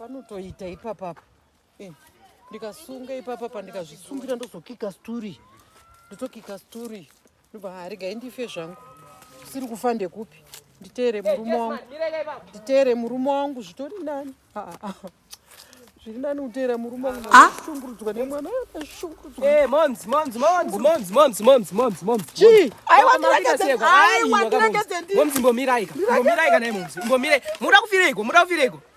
panotoita ipapa apa eh, ndikasunga ipapa apa ndikazvisungira ndozokika sturi ndotokika sturi ndobva harigai ndife zvangu siri kufa ndekupi nditeere murume wangu nditeere murume wangu zvitori nani zviri nani kuteera murume wangu ah. shungurudzwa nemwana ashungurudzwaaiwatirengedzendimomzi mbomirai ka mbomirai ka naye momzi mbomirai muda kufireiko muda kufireiko